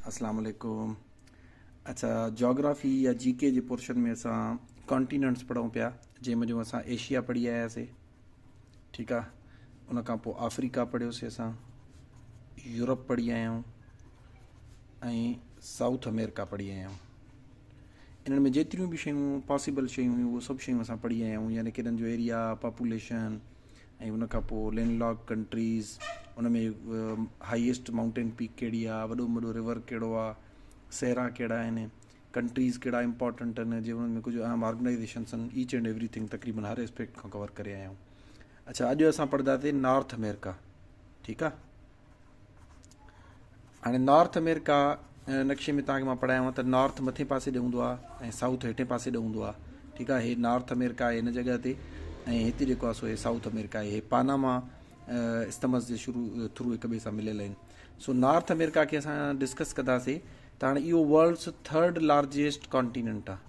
اسلام عليڪم اچا جاگرافي يا جي ڪي جي پورشن ۾ اسان ڪانٽيننٽس پڙھون پيا جنهن ۾ جو اسان ايشيا پڙھي آياسي ٺيڪ آ ان کان پوء آفريڪا پڙھيوسي اسان يورپ پڙھي آيا آهيون ۽ سائوٿ امريڪا پڙھي آيا آهيون انهن ۾ جيتريون به شيون پاسبل شيون هيون اهو سڀ شيون اسان پڙھي آيا آهيون يعني ڪنن جو ايريا پاپوليشن ۽ ان کان پوء لينڊ لاڪ ڪنٽريز ان ۾ هائيسٽ مائونٽين پيڪ ڪهڙي آهي وڏو ۾ وڏو رور ڪهڙو آهي صحرا ڪهڙا آهن ڪنٽريز ڪهڙا امپورٽنٽ آهن جي ان ۾ ڪجهه اهم آرگنائيزيشنس آهن ايچ اينڊ ايوري ٿنگ تقريبن هر اسپيڪٽ کان ڪور ڪري آيا آهيون اڇا اڄ اسان پڙهنداسين نارٿ امريڪا ٺيڪ آهي هاڻي نارٿ امريڪا نقشي ۾ تانکي مان پڙهايو ته نارٿ مٿي پاسي ڏي هوندو آهي ۽ سائوٿ هيٺين پاسي ڏي هوندو آهي ٺيڪ آهي هي نارٿ امريڪا آهي هن جڳهه تي ۽ هتي جيڪو آهي سو هي سائوٿ امريڪا آهي هي پاناما استمس جي شروع ٿرو هڪ ٻئي سان مليل آهن سو نارٿ امريڪا کي اسان ڊسڪس ڪنداسي ته هاڻي اهو ورلڊس ٿرڊ لارجيسٽ کانٽيننٽ آهي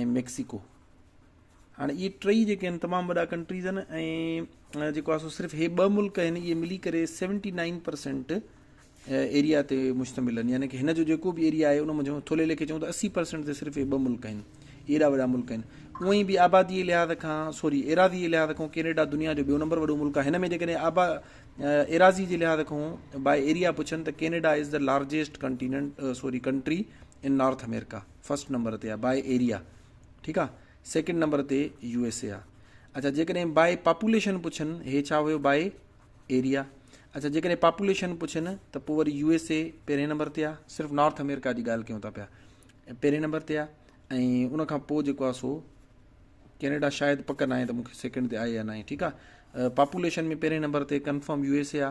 ۽ ميڪسيڪو هاڻي اهي ٽئي جيڪي آهن تمام وڏا ڪنٽريز آهن ۽ جيڪو آسو صرف هي ٻه ملڪ آهن اهي ملي ڪري سيونٽي نائن پرسنٽ ايريا تي مشتمل آهن يعنی ڪي هن جو جيڪو به ايريا آهي ان منجهو ٿولهي ليکي چون ته اسي پرسنٽ تي صرف هي ٻه ملڪ آهن ايڏا وڏا ملڪ آهن اونئ به آبادي لحاظ کان سوري ايراضي لحاظ کان ڪينيڊا دنيا جو ٻيو نمبر وڏو ملڪ آهي هن ۾ جيڪڏهن آبا ايراضي جي لحاظ کان باء ايريا پڇن ته Canada is the largest continent sorry country in north America first number تي آ باء ايريا ٺيڪ آ سيڪنڊ نمبر تي يو ايس اي آ اچھا جيڪڏهن باء پاپوليشن پڇن هي ڇا هيو باء ايريا اچھا جيڪڏهن پاپوليشن پڇن ته پوء وري يو ايس اي پهرين نمبر تي آ صرف نارٿ امريڪا جي ڳالهه ڪيون ٿا پيا پهرين نمبر تي آ ۽ ان کان پوء جيڪو آ سو ڪينيڊا شايد پڪ ناهي ته مونکي سيڪنڊ تي آهي يا ناهي ٺيڪ آ پاپوليشن ۾ پهرين نمبر تي ڪنفرم يو ايس اي آ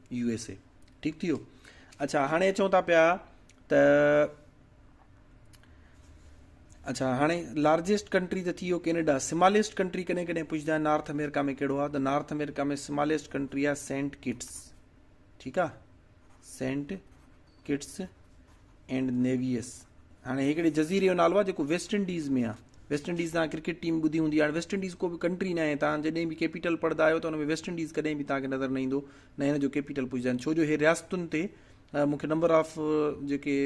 يو ايس اي ٺيڪ ٿي ويو اچھا هاڻي اچون ٿا پيا ته اچھا هاڻي لارجسٽ ڪنٽري ته ٿي ويو ڪينيڊا سماليسٽ ڪنٽري ڪڏهن ڪڏهن پڇندا آهن نارٿ امريڪا ۾ ڪهڙو آهي ته نارٿ امريڪا ۾ سماليسٽ ڪنٽري آهي سينٽ ڪٽس ٺيڪ آ سينٽ ڪٽس اينڊ نيويس هاڻي هڪڙي جزيري جو نالو آهي جيڪو ويسٽ انڊيز ۾ آهي ويسٽ انڊيز تان ڪرڪيٽ ٽيم ٻڌي هوندي هاڻي ويسٽ انڊيز ڪو به ڪنٽري نه آهي تان جڏهن به ڪيپيٽل پڙهندا آهيو ته ان ۾ ويسٽ انڊيز ڪڏهن به تان کي نظر نه ايندو نه هن جو ڪيپيٽل پوجدا آهن ڇو جو هي رياستن تي مون کي نمبر آف جيڪي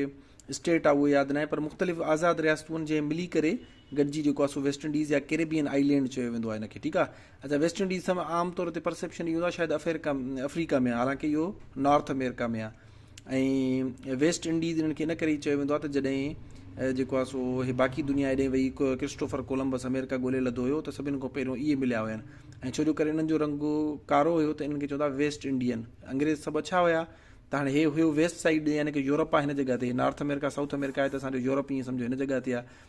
اسٽيٽ آهي اهو ياد نه آهي پر مختلف آزاد رياستون جنهن ملي ڪري گڏجي جيڪو آهي سو ويسٽ انڊيز يا ڪيريبين آئي لينڊ چيو ويندو آهي ان کي ٺيڪ آهي اچا ويسٽ انڊيز سم عام طور تي پرسيپشن اهي هوندو آهي شايد افيرڪا افريڪا ۾ حالانڪه اهو نارٿ اميرڪا ۾ آهي ۽ ويسٽ انڊيز انهن کي ان ڪري چيو ويندو آهي ته جڏهن جيڪو آهي سو هي باقي دنيا هيڏي وئي ڪرسٽوفر ڪولمبس اميرڪا ڳولي لڌو هيو ته سڀني کان پهريون اهي مليا هيا ۽ ڇو جو ڪري انهن جو رنگ ڪارو هيو ته انهن کي چوندا ويسٽ انڊين انگريز سڀ اڇا هيا ته هاڻي هي هيو ويسٽ سائيڊ يعني ڪي يورپ آهي هن جڳهه تي نارٿ اميرڪا سائوٿ اميرڪا آهي ته اسان جو يورپ ائين سمجهو هن جڳهه تي آهي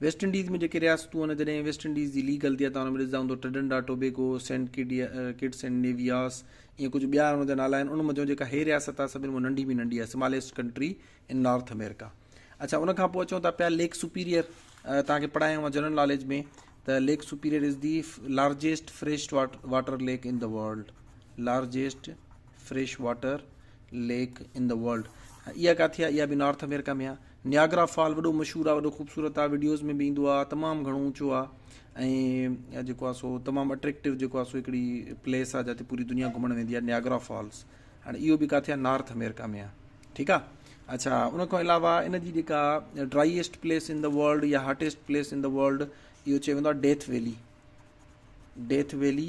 ويسٽ انڊيز ۾ جيڪي رياستون آهن، جڏهن ويسٽ انڊيز جي ليگ هلندي آهي ته ان ۾ ڏسجندا هوندو ٽرڊنڊا ٽوبيگو، سينٽ ڪٽس ۽ نيوياس ائين ڪجهه ٻيا ان جا نالا آهن ان منجهيون جيڪا هي رياست آهي سڀني مان ننڍي ۾ ننڍي آهي smallest country in north America. اڇا ان کان پوء اچون ٿا پيا ليڪ سپيريئر توهان کي پڙهايو آهي جنرل ناليج ۾ ته lake superior is the largest fresh water lake in the world largest fresh water lake in the world اها ڪاٿي آهي اها به نارٿ امريڪا ۾ آهي نياگرا فال وڏو مشھور آ وڏو خوبصورت آ وڊيوز ۾ به ايندو آ تمام گھڻو اوچو آ ۽ جيڪو آ سو تمام اٽريڪٽو جيڪو آ سو ھڪڙي پليس آ جتي پوري دنيا گھمڻ ويندي آ نياگرا فالس ھاڻي اھو به ڪاٿي آ نارٿ امريڪا ۾ آ ٺيڪ آ اڇا ان کان علاوه ان جي جيڪا driest place in the world يا hottest place in the world اھو چيو ويندو آ ڊيٿ ويلي ڊيٿ ويلي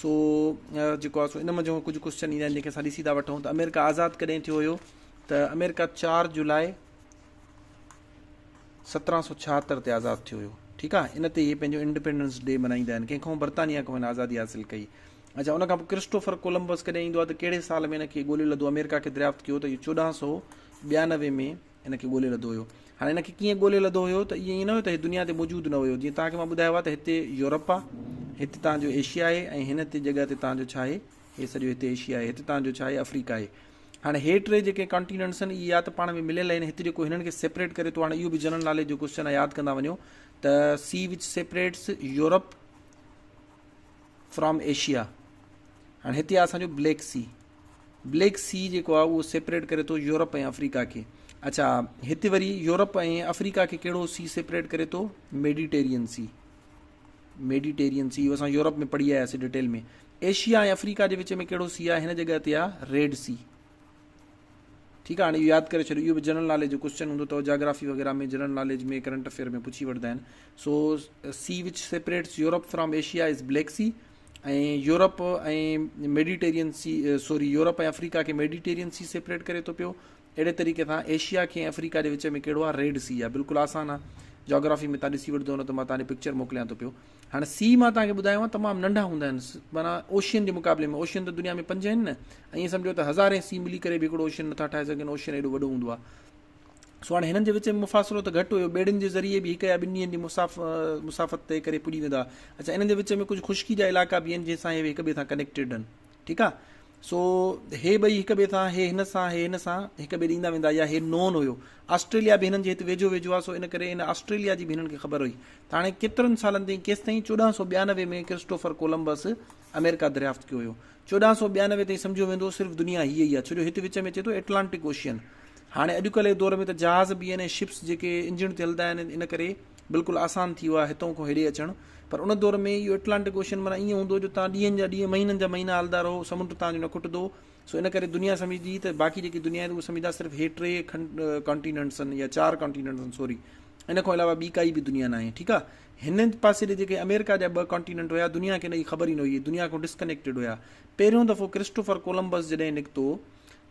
سو جيڪو آهي سو ان منجهه ڪجهه ڪوشچن ايندا آهن جن کي اسان ڏسي ٿا وٺون ته آمريڪا آزاد ڪڏهن ٿيو هيو ته آمريڪا چار جولاء سترهن سو ڇاهتر تي آزاد ٿيو هيو ٺيڪ آهي ان تي اهي پنهنجو انڊيپينڊنس ڊي ملهائيندا آهن ڪنهن کان برطانيا کان هن آزادي حاصل ڪئي اچھا ان کان پوء ڪرسٽوفر ڪولمبس ڪڏهن ايندو آهي ته ڪهڙي سال ۾ هن کي ڳوليو لڌو آمريڪا کي دريافت ڪيو ته اهو چوڏهن سو ٻيانوي ۾ ان کي ڳولي لڌو هيو. هاڻي ان کي ڪيئن ڳولي لڌو هيو ته ائين نه هيو ته هي دنيا تي موجود نه هيو. جيئن توهان کي مان ٻڌايو آهي ته هتي يورپ آهي، هتي توهان جو ايشيا آهي ۽ هن تي جڳهه تي توهان جو ڇا آهي، هي سڄو هتي ايشيا آهي، هتي توهان جو ڇا آهي، افريڪا آهي. هاڻي هي ٽي جيڪي ڪانٽيننٽس آهن اهي يا ته پاڻ ۾ مليل آهن، هت جيڪو هنن کي سيپريٽ ڪري ٿو، هاڻي اهو به جنرل ناليج جو ڪوشچن آهي ياد ڪندا وڃو ته sea which separates Europe from Asia هاڻي هتي آهي اسان جو بليڪ سي. بليڪ سي جيڪو آهي اهو سيپريٽ ڪري ٿو يورپ ۽ آفريڪا کي اڇا هتي وري يورپ ۽ آفريڪا کي ڪهڙو سي سيپريٽ ڪري ٿو ميڊيٽيرين سي ميڊيٽيرين سي اسان يورپ ۾ پڙهي آياسي ڊيٽيل ۾ ايشيا ۽ آفريڪا جي وچ ۾ ڪهڙو سي آهي هن جڳهه تي آهي ريڊ سي ٺيڪ آهي هاڻي ياد ڪري ڇڏيو اهو به جنرل ناليج جو ڪوشچن هوندو اٿو جاگرافي وغيرہ ۾ جنرل ناليج ۾ ڪرنٽ افيئر ۾ پڇي وٺندا آهن so sea which separates Europe from Asia is black sea ۽ Europe ۽ Mediterranean sea sorry Europe ۽ Africa کي ميڊيٽيرين سي سيپريٽ ڪري ٿو پيو اهڙي طريقي سان ايشيا کي افريڪا جي وچ ۾ ڪهڙو آهي ريڊ سي آهي بلڪل آسان آهي جاگرافي ۾ تان ڏسي وٺدو نه ته مان تان پڪچر موڪليان ٿو پيو هاڻي سي مان تان کي ٻڌايو آهي تمام ننڍا هوندا آهن مانا اوشين جي مقابلي ۾ اوشين ته دنيا ۾ پنج آهن نه ائين سمجهو ته هزارين سي ملي ڪري به هڪڙو اوشين نٿا ٺاهي سگهن اوشين ايڏو وڏو هوندو آهي سو هاڻي هنن جي وچ ۾ مفاصلو ته گهٽ هيو، ٻيڙين جي ذريعي به هڪ يا ٻن ڏينهن جي مسافت طئي ڪري پڄي ويندا ها. اڇا انهن جي وچ ۾ ڪجهه خشڪي جا علائقا به آهن جنهن سان هي هڪ ٻئي سان ڪنيڪٽيڊ آهن. ٺيڪ آهي. سو هي ٻئي هڪ ٻئي سان هي هن سان هي هن سان هڪ ٻئي ڏي ايندا ويندا يا هي نون هيو. آسٽريليا به هنن جي هت ويجهو ويجهو آهي سو ان ڪري ان آسٽريليا جي به هنن کي خبر هئي. ته هاڻي ڪيترن سالن تائين ڪيستائين چوڏهن سؤ ٻيانوي ۾ ڪرسٽوفر ڪولمبس آمريڪا دريافت ڪيو هيو. چوڏهن سؤ ٻيانوي تائين سمجهيو ويندو هو صرف دنيا هيء ئي آهي ڇو جو هت وچ ۾ اچي ٿو ائٽلانٽڪ اوشين. هاڻي اڄڪلهه جي دور ۾ ته جهاز به يعني شپس جيڪي انجڻ تي هلدا آهن ان ڪري بلڪل آسان ٿي ويو آهي هتئون کان هيڏي اچڻ پر ان دور ۾ اهو ائٽلانٽڪ اوشين معنيٰ ائين هوندو هو جو تان ڏينهن جا ڏينهن مهينن جا مهينا هلدا رهو سمنڊ تان جو نه کٽدو سو ان ڪري دنيا سمجهدي ته باقي جيڪي دنيا آهي ته اهو سمجهدا صرف هي ٽي ڪانٽيننٽس آهن يا چار ڪانٽيننٽس آهن سوري ان کان علاوه ٻي ڪائي به دنيا ناهي ٺيڪ آهي هن پاسي ڏي جيڪي آمريڪا جا ٻه ڪانٽيننٽ هيا دنيا کي ان جي خبر ئي نه هئي، دنيا کان ڊسڪنيڪٽيڊ هيا. پهريون دفعو ڪرسٽوفر ڪولمبس جڏهن نڪتو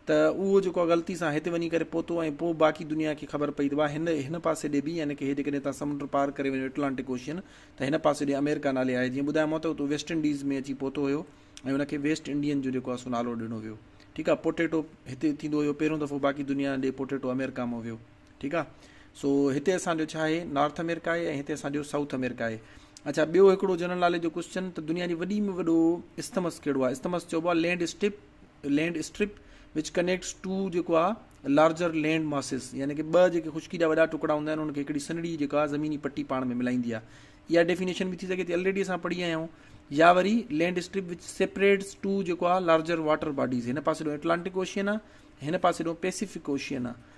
ته اهو جيڪو آ غلطي سان هتي وڃي ڪري پهتو ۽ پوء باقي دنيا کي خبر پئي ته واهه هن هن پاسي ڏي به يعني ڪه جيڪڏهن هتان سمنڊ پار ڪري وڃو اٽلانٽڪ اوشين ته هن پاسي ڏي آمريڪا نالي آهي جيئن ٻڌايومانو ته اتو ويسٽ انڊيز ۾ اچي پهتو هيو ۽ ان کي ويسٽ انڊين جو جيڪو آ سو نالو ڏنو ويو ٺيڪ آ پوٽيٽو هتي ٿيندو هيو پهريون دفعو باقي دنيا ڏي پوٽيٽو آمريڪا مان ويو ٺيڪ آ سو هتي اسان جو ڇا آهي نارٿ امريڪا آهي ۽ هتي اسان جو سائوٿ امريڪا آهي اچھا ٻيو هڪڙو جنرل ناليج جو ڪوشچن ته دنيا جي وڏي ۾ وڏو استمس ڪهڙو آهي استمس چئبو آهي land strip land strip which connects two جيڪو آهي لارجر لينڊ ماسز يعني کہ ٻه جيڪي خشڪي جا وڏا ٽڪڙا هوندا آهن ان کي هڪڙي سنڙي جيڪا آهي زميني پٽي پاڻ ۾ ملائيندي آهي اها ڊيفينيشن به ٿي سگھي ٿي آلريڊي اسان پڙهي آيا آهيون يا وري land strip which separates two جيڪو آهي لارجر واٽر باڊيز هن پاسي ڏو ايٽلانٽڪ اوشين آهي هن پاسي ڏو پيسفڪ اوشين آهي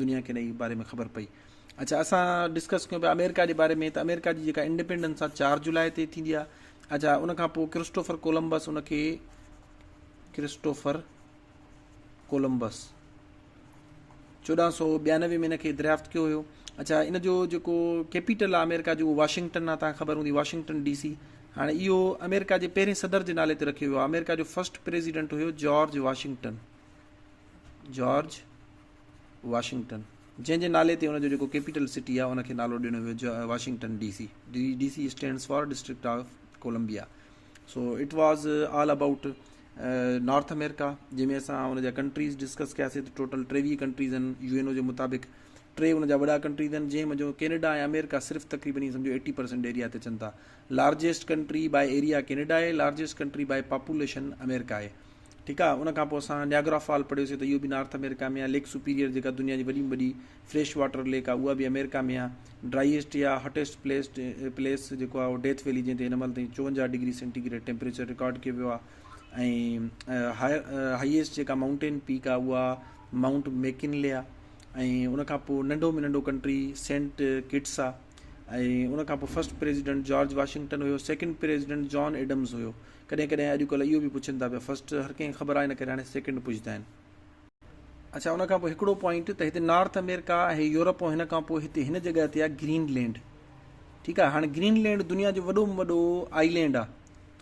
دنيا کي انهيء باري ۾ خبر پئي. اڇا اسان ڊسڪس ڪيون پيا آمريڪا جي باري ۾ ته آمريڪا جي جيڪا انڊيپينڊنس آ چار جولاء تي ٿيندي آ اڇا ان کان پوء ڪرسٽوفر ڪولمبس ان کي ڪرسٽوفر ڪولمبس چوڏهن سو ٻيانوي ۾ ان کي دريافت ڪيو هيو اچھا ان جو جيڪو ڪيپيٽل آ آمريڪا جو واشنگٽن آ تان خبر هوندي واشنگٽن ڊي سي هاڻي اهو آمريڪا جي پهرين صدر جي نالي تي رکيو ويو آمريڪا جو فرسٽ پريزيڊنٽ هيو جارج واشنگٽن جارج واشنگٽن، جنهن جي نالي تي ان جو جيڪو ڪيپيٽل سٽي آهي، ان کي نالو ڏنو ويو جا Washington D C. D C stands for district of Columbia. So it was all about north America جنهن ۾ اسان ان جا ڪنٽريز ڊسڪس ڪياسي ته ٽوٽل ٽيويهه ڪنٽريز آهن يو اين او جي مطابق ٽي ان جا وڏا ڪنٽريز آهن جنهن منجهو ڪينيڊا ۽ امريڪا صرف تقريبن ائين سمجهو ايٽي پرسنٽ ايريا تي اچن ٿا largest country by area Canada آهي، largest country by population America آهي. ٺيڪ آ ان کان پوء اسان نياگرا فال پڙهيو سي ته اهو به نارٿ آمريڪا ۾ آهي، ليڪ سپيريئر جيڪا دنيا جي وڏي ۾ وڏي فريش واٽر ليڪ آهي اها به آمريڪا ۾ آهي، ڊرائيسٽ يا هاٽيسٽ پليس پليس جيڪو آهي اهو ڊيٿ ويلي جنهن تي هن مهل تائين چوونجاهه degree centigrade temperature record ڪيو ويو آهي ۽ هائيسٽ جيڪا مائونٽين پيڪ آهي اها مائونٽ ميڪنلي آهي ۽ ان کان پوء ننڍو ۾ ننڍو ڪنٽري سينٽ ڪٽس آهي. ۽ ان کان پوء فرسٽ پريزيڊنٽ جارج واشنگٽن هيو، سيڪنڊ پريزيڊنٽ جان ايڊمز هيو. ڪڏهن ڪڏهن اڄ ڪلهه اهو به پڇن ٿا پيا، فرسٽ هر ڪنهن کي خبر آهي ان ڪري هاڻي سيڪنڊ پڇدا آهن. اڇا ان کان پوء هڪڙو پوائنٽ ته هتي نارٿ آمريڪا ۽ يورپ ۽ هن کان پوء هتي هن جڳهه تي آهي گرين لينڊ ٺيڪ آهي هاڻي گرين لينڊ دنيا جو وڏو ۾ وڏو آئي لينڊ آهي.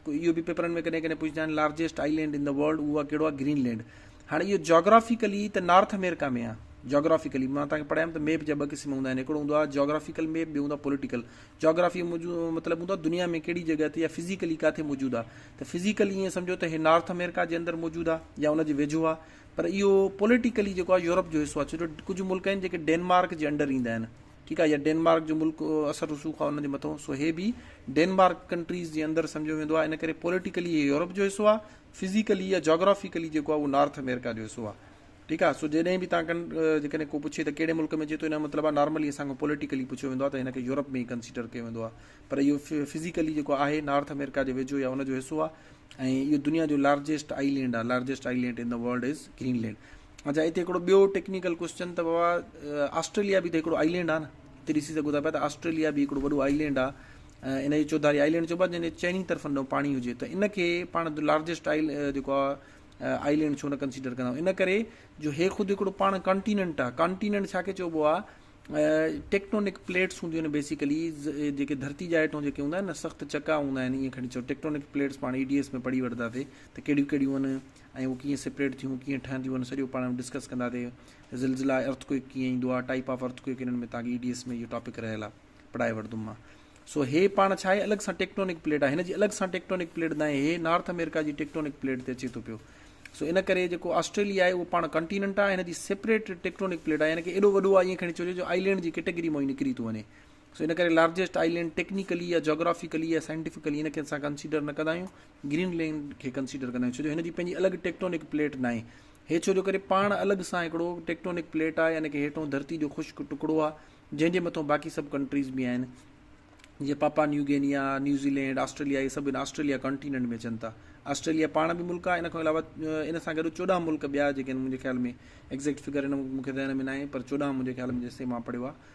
اهو به پيپرن ۾ ڪڏهن ڪڏهن پڇندا آهن largest island in the world اهو ڪهڙو آهي گرين لينڊ هاڻي اهو جاگرافيڪلي ته نارٿ امريڪا ۾ آهي جاگرافيڪلي مان توهان کي پڙهايم ته ميپ جا ٻه قسم هوندا آهن هڪڙو هوندو آهي جاگرافيڪل ميپ ٻيو هوندو آهي پوليٽيڪل جاگرافي مطلب هوندو آهي دنيا ۾ ڪهڙي جڳهه تي يا فزيڪلي ڪاٿي موجود آهي ته فزيڪل ائين سمجهو ته هي نارٿ امريڪا جي اندر موجود آهي يا ان جي ويجهو آهي پر اهو پوليٽيڪلي جيڪو آهي يورپ جو حصو آهي ڇو جو ڪجهه ملڪ آهن جيڪي ڊينمارڪ جي انڊر ايندا آهن ٺيڪ آهي يا ڊينمارڪ جو ملڪ اثر رسوخ آهي ان جي مٿو سو هي به ڊينمارڪ ڪنٽريز جي اندر سمجهيو ويندو آهي ان ڪري پوليٽيڪلي هي يورپ جو حصو آهي فزيڪلي يا جاگرافيڪلي جيڪو آهي اهو نارٿ امريڪا جو حصو آهي ٺيڪ آهي سو جيڏهن به تان جيڪڏهن ڪو پڇي ته کهڙي ملڪ ۾ چي ٿو ان مطلب آهي نارملي اسان کان پوليٽيڪلي پڇيو ويندو آهي ته هن کي يورپ ۾ ئي ڪنسيڊر ڪيو ويندو آهي پر اهو فزيڪلي جيڪو آهي نارٿ امريڪا جي ويجهو يا ان جو حصو آهي ۽ اهو دنيا جو لارجيسٽ آئي لينڊ آهي largest island in the world is Greenland اچا هتي هڪڙو ٻيو ٽيڪنيڪل ڪوسچن ته بابا آسٽريليا به ته هڪڙو آئي لينڊ آ نه هتي ڏسي سگهو ٿا پيا ته آسٽريليا به هڪڙو وڏو آئي لينڊ آ ان کي چوڌاري آئي لينڊ چئبو آ جنهن جي چئني طرفن ڏانهن پاڻي هجي ته ان کي پاڻ لارجسٽ آئي جيڪو آ آئي لينڊ ڇو نه ڪنسيڊر ڪندا ان ڪري جو هي خود هڪڙو پاڻ ڪانٽيننٽ آ ڪانٽيننٽ ڇا کي چئبو آ ٽيڪٽونڪ پليٽس هونديون آهن بيسيڪلي جيڪي ڌرتي جا هيٺون جيڪي هوندا آهن نه سخت چڪا هوندا آهن ائين کڻي چئو ٽيڪٽونڪ پليٽس پاڻ اي ڊي ايس ۾ پڙهي وٺنداسي ته ڪهڙيون ڪهڙيون آهن ۽ هو ڪيئن سپريڊ ٿيون ڪيئن ٺهنديون ان سڄو پاڻ ۾ ڊسڪس ڪندا تي زلزلا ارٿ ڪوئڪ ڪيئن ايندو آ ٽائيپ آف ارٿ ڪوئڪ انهن ۾ تان ڪي اي ڊي ايس ۾ اهو ٽاپڪ رهيل آ پڙهائي وٺدم مان سو هي پاڻ ڇا آهي الڳ سان ٽيڪٽونڪ پليٽ آ هن جي الڳ سان ٽيڪٽونڪ پليٽ دانهين هي نارٿ امريڪا جي ٽيڪٽونڪ پليٽ تي اچي ٿو پيو سو ان ڪري جيڪو آسٽريليا آهي اهو پاڻ ڪنٽيننٽ آ هن جي سپريٽ ٽيڪٽونڪ پليٽ آ يعني ڪي ايڏو وڏو آ ائين کڻي چوجي جو آئيلينڊ جي ڪيٽيگري مون نڪري ٿو وڃي سو ان ڪري لارجيسٽ آئيلينڊ ٽيڪنيڪلي يا جاگرافيڪلي يا سائنٽيفڪلي ان کي اسان ڪنسيڊر نه ڪندا آهيون گرين لينڊ کي ڪنسيڊر ڪندا آهيون ڇو جو هن جي پنهنجي الڳ ٽيڪٽونڪ پليٽ ناهي هي ڇو جو ڪري پاڻ الڳ سان هڪڙو ٽيڪٽونڪ پليٽ آهي يعني ڪي هيٺون ڌرتي جو خشڪ ٽڪڙو آهي جنهن جي مٿون باقي سڀ ڪنٽريز به آهن جيئن Papua New Guinea New Zealand Australia اهي سڀ هن آسٽريليا ڪانٽيننٽ ۾ اچن ٿا آسٽريليا پاڻ به ملڪ آهي ان کان علاوه ان سان گڏ چوڏهن ملڪ ٻيا جيڪي آهن منهنجي خيال ۾ ايگزيڪٽ فگر هن مون کي ذهن ۾ ناهي پر چوڏهن منهنجي خيال ۾ جيسين مان پڙهيو آهي